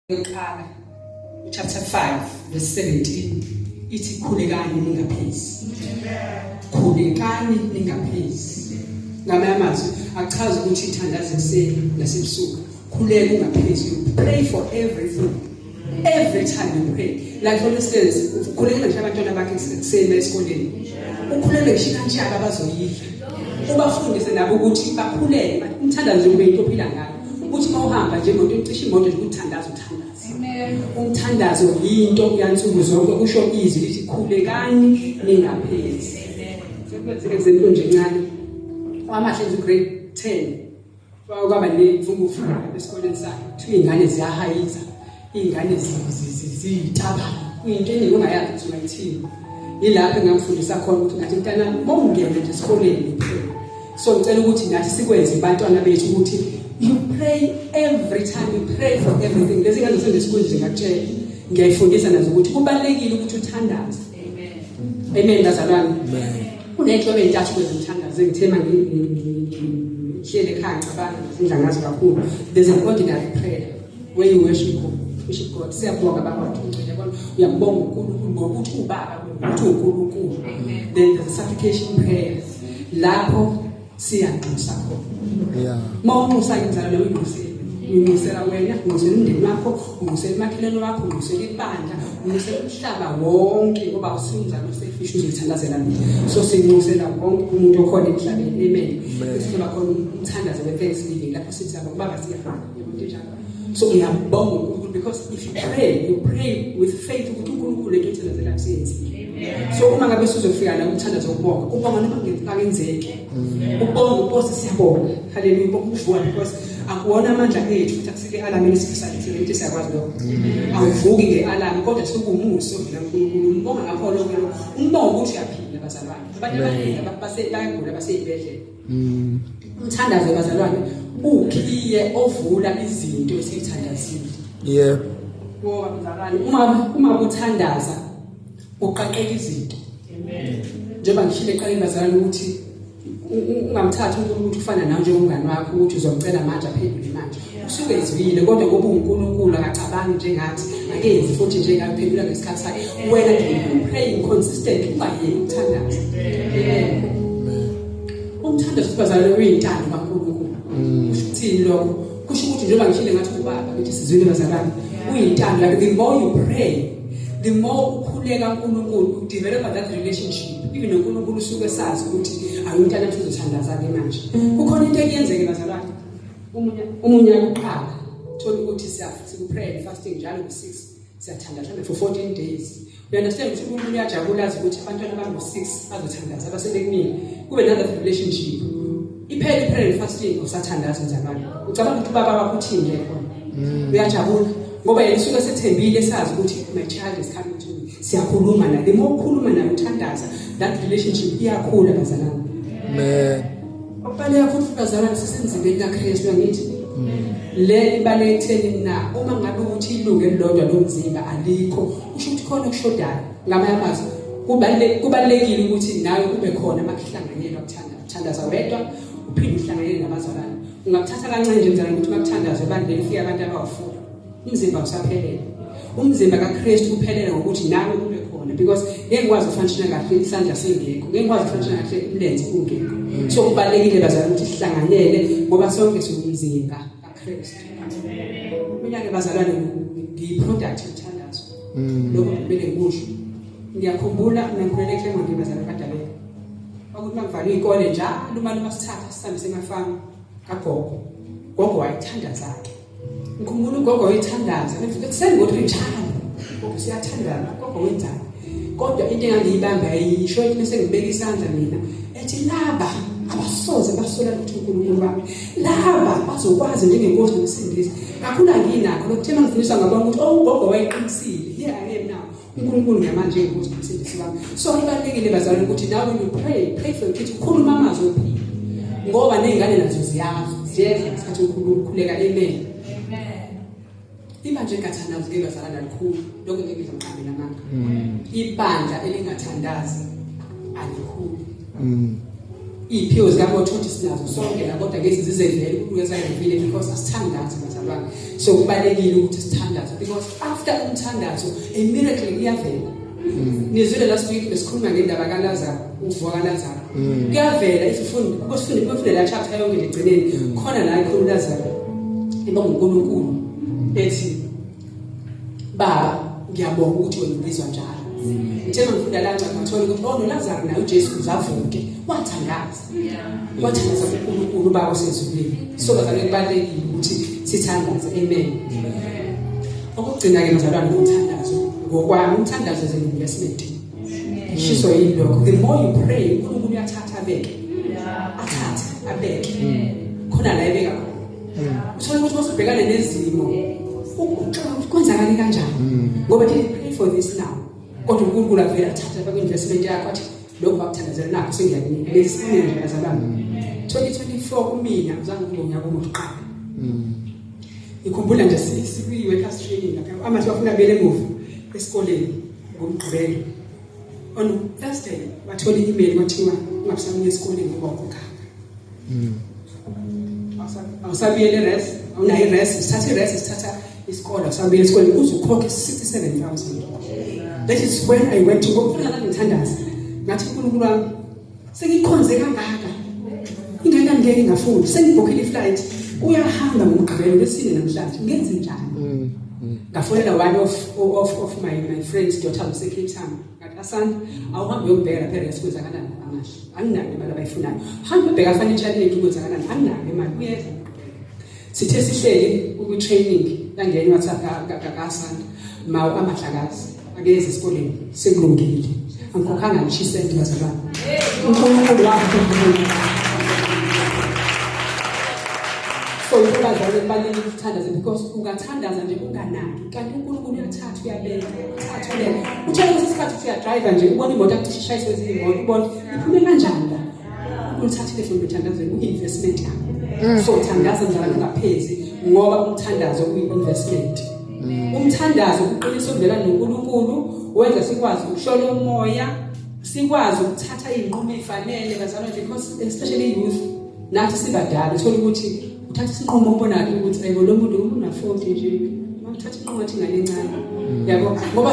yokuqala chapter 5 verse 17 ithi khulekani ningaphezi khulekani ningaphezi ngamanye amazwi achaza ukuthi ithandaze ekuseni nasebusuku khuleka ungaphezi you pray for everything every time you pray like for instance ukhuleka ngisho abantwana bakhe ekuseni esikoleni ukhulele ngisho kanjalo abazoyidla ubafundise nabo ukuthi bakhulele umthandazo ube into ophila ngayo ukuthi uma uhamba nje imoto ucisha imoto nje ukuthandaza uthandaza umthandazo yinto yansuku zonke kusho izwi lithi khulekani ningaphezi sekwenzeke zento nje ncane kwamahle nje grade 10 kwaba ne mfungufu esikoleni sakhe kuthiwa ingane ziyahayiza Iy'ngane ziyitaba into eningi ongayazi ukuthi ungayithini yilapho engamfundisa khona ukuthi ngathi mntana mongene nje esikoleni so ngicela ukuthi nathi sikwenze abantwana bethu ukuthi you pray every time you pray for everything lezi ngane zisendesikhulu nje ngakutshela ngiyayifundisa nazo ukuthi kubalekile ukuthi uthandaze amen bazalwane kuney'nhlobo ey'ntathu kwezimthandazo engithe ma ngihlele ekhaya ngicabanga ngidla ngazo kakhulu there's an ordinary prayer when you worship God worship God siyabonga baba ukuthi ungcwele yabona uyambonga uNkulunkulu ngokuthi ubaba ukuthi uNkulunkulu then the supplication prayer lapho siyanxusa khona yeah mawunxusa inzalo leyo inxusile unxusela wena unxusela umndeni wakho unxusela imakhelelo wakho unxusela ibandla unxusela umhlaba wonke ngoba usinzalo selfish uzithandazela mina so sinxusela wonke umuntu okhona emhlabeni amen sithola khona umthandazo we thanksgiving lapho sithi ababa siyafana so uyabonga uNkulunkulu because if you pray you pray with faith ukuthi uNkulunkulu into ethandazela kusenzile so uma ngabe sizofika la umthandazo wokubonga ubonga noma ngekenzeke ubonga ukosi siyabonga haleluya ubonga uvuka because akuwona amandla ethu ukuthi akusike alarm elisifisayo thina ukuthi siyakwazi lokho awuvuki ngealarm kodwa sokumuso vila uNkulunkulu umbonga ngakho lokho umbonga ukuthi uyaphila bazalwane abantu abaningi basebagula baseyibedlela Mm. Umthandazo bazalwane ukhiye ovula izinto esithandazile. Yeah. Ngoba mzalwane uma uma uthandaza uqaqeka izinto. Amen. Njengoba ngishilo eqaleni bazalwane ukuthi ungamthatha umuntu ufana nawe njengomngane wakho ukuthi uzomcela manje aphendule manje. usuke ezibile kodwa ngoba uNkulunkulu akacabangi njengathi akenzi futhi nje kaphendula ngesikhathi sakhe wena praying consistently ungayeki ukuthandaza umthandazo sibazalwe uyintando kaNkulunkulu mm. kusho ukuthini lokho kusho ukuthi njengoba ngishile ngathi ubaba ukuthi sizwile bazalwane uyintando yakhe the more you pray the more ukhuleka uNkulunkulu udevelop that relationship even uNkulunkulu usuke sazi ukuthi awuntana futhi uzothandaza ke manje mm. kukhona into ekuyenzeke bazalwane umunya kuqala thola ukuthi sikuprayer fasting njalo ku 6 siyathanda mhlawumbe for 14 days you understand ukuthi umuntu uyajabula azi ukuthi abantwana abangu 6 bazothandaza abasebekunini kube naloo relationship iphele iprayer fasting usathandaza njalo ucabanga ukuthi ubaba wakho uthini ke khona mm. uyajabula ngoba yena usuke sethembile sazi ukuthi my child is coming to me siyakhuluma naye uma ukhuluma naye uthandaza that relationship iyakhula bazalana amen Obale yakho ufukazana ngisesemzimbeni kaKristu angithi. Le ibale etheni na uma ngabe ukuthi ilunge lodwa lomzimba alikho usho ukuthi khona okushodayo ngamanye amazwi kubalulekile kubalulekile ukuthi nawe ube khona makuhlanganyelwa kuthanda kuthandaza wedwa uphinde uhlanganyele nabazalwane ungakuthatha kancane nje mzalwane ukuthi makuthandaze bandeni fika abantu abawufuna umzimba usaphelele umzimba kaKristu uphelele ngokuthi nawe ube khona because ngeke ngikwazi ufunctiona kahle isandla singekho ngeke ngikwazi ufunctiona kahle umlenze ungekho mm. so kubalekile bazali ukuthi sihlanganyele ngoba sonke siwumzimba kaKristu mina ke bazalwane ngiyiproduct yothandazo mm. lokho kumele ngikusho ngiyakhumbula ngikhulele ekhemwa ngibazala kadabela ukuthi mangivale ikole njalo uma luma sithatha sisambise emafamu kagogo gogo wayithanda zakhe Ngikhumbula ugogo wethandaza ekuseni ngothi ngithanda ngoba siyathandana ugogo wenzani kodwa into engangiyibamba yayisho ethi bese ngibeka isandla mina ethi laba abasoze basola ukuthi uNkulunkulu wami laba bazokwazi njengenkosi nomsindisi kakhulu anginakho lokuthe mangifundiswa ngabona ukuthi owugogo oh, wayeqinisile here i am now uNkulunkulu ngamanje ukuthi umsindisi wami so kubalekile bazalwane ukuthi nawe you pray pray for kids ukhuluma amazwi ophila ngoba nezingane nazo ziyazi ziyedla isikhathi ukhuleka amen ibandla engathandazi ke bazalwane alikhulu lokho ngeke ngizomqabela manje ibandla elingathandazi alikhulu Mm. Iyiphiwo zikaMothothi sinazo sonke la kodwa ngezi zizedlele ukwenza ngivile because asithandazi bazalwane. So kubalekile ukuthi sithandaze because after umthandazo a miracle iyavela. Mm. Nizwile last week besikhuluma ngendaba kaLazaro, ukuvuka kaLazaro. Mm. Kuyavela isifundo, kusifundo kuyofunde la chapter yonke ligcineni. Khona la ikhulu Lazaro. Iba uNkulunkulu ethi baba ngiyabonga ukuthi wena ubizwa njalo ngithe ngifunda la ncwadi ngathola ukuthi oh noLazaro naye uJesu uzavuke wathandaza wathandaza kuNkulunkulu baba osezulwini so bazalwane kubalekile ukuthi sithandaze amen okugcina ke bazalwane umthandazo ngokwami umthandazo is an investment shiswa yini lokho the more you pray uNkulunkulu uyathatha abeke athathe abeke khona la ebeka khona uthole ukuthi masubhekane nezimo kwenzakale kanjani mm. ngoba did pray for this now kodwa uNkulunkulu avela thatha baku investment yakho athi lokho bakuthandazela nakho sengiyakunika lesine nje azalana 2024 kumina uzange ngibonga kokuqala mm. ngikhumbula nje sikwi workers training lapha amathi bafuna bele muva esikoleni ngomgqibelo On Thursday wathola i-email kwathiwa ungabusabuya esikoleni ngoba ukhokhala. Mm. Awusabuyele res, awunayo res, sithatha res, sithatha isikole, awusabuyele esikoleni uzokhokha 67000. That is when I went to go kufuna ngithandaza. Ngathi uNkulunkulu wami sengikhonze kangaka ingane angeke ngafunda sengibhokhile iflight uyahamba ngomgqibelo lesine namhlanje ngenze njani mm, mm. ngafonela one of, of, of my, my friends daughter usecape town ngathi asanda awuhambe uyobheka lapha eres kwenzakalani amahle anginayo imali abayifunayo hambe ubheka fanitshaleki kwenzakalani anginayo imali uyeza Sithe sihleli kwi training kangeni wathi akasanda mawu amahlakazi akeze esikoleni sekulungile angikhokhanga ngisho isenti bazalwane uNkulunkulu wakho so intombazane kubalulekile ukuthandaza because ungathandaza nje unganaki kanti uNkulunkulu uyathatha uyabeka uthatha ulela utshela ukuthi isikhathi uthi uyadriver nje ubona imoto akucishe ishayiswe ziyimoto ubona iphume kanjani la umthathile futhi uthandaze uyi-investment yakho so thandaza njalo ungaphezi ngoba umthandazo uyi-investment umthandazo uqinisa ukuvela noNkulunkulu wenza sikwazi ukushona umoya sikwazi ukuthatha izinqumo ezifanele bazalwane because especially youth nathi sibadala uthola ukuthi uthatha isinqumo ubonayo ukuthi ayibo lo muntu unafoti nje uthatha inqomo athi ingane encane yabo ngoba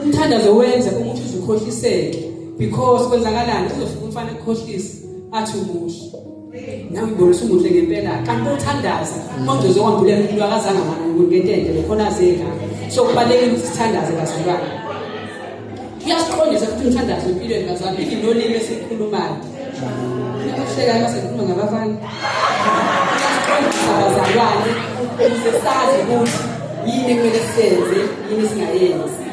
umthandazo wenza ukuthi uzukhohliseke because kwenzakalani uzofika umfana ekukhohlisa athi umuhle nambona usumuhle ngempela kanti uthandaza mongcozo wambulela umuntu akazange ngentende lokhona azeka so kubalekile ukuthi sithandaze bazalwane kuyasiqondisa futhi umthandazo empilweni bazali even nolimi esikhulumayo nakuhlekayo uma sengikhuluma ngabafana kuyasiqondisa bazalwane ukuze sazi ukuthi yini ekumele senze yini singayenzi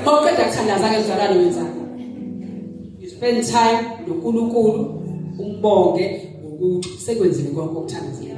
mawuqeda kuthandaza-ke mzalwane wenzani you spend time nonkulunkulu umbonge ngokuthi sekwenzile konke okuthandazile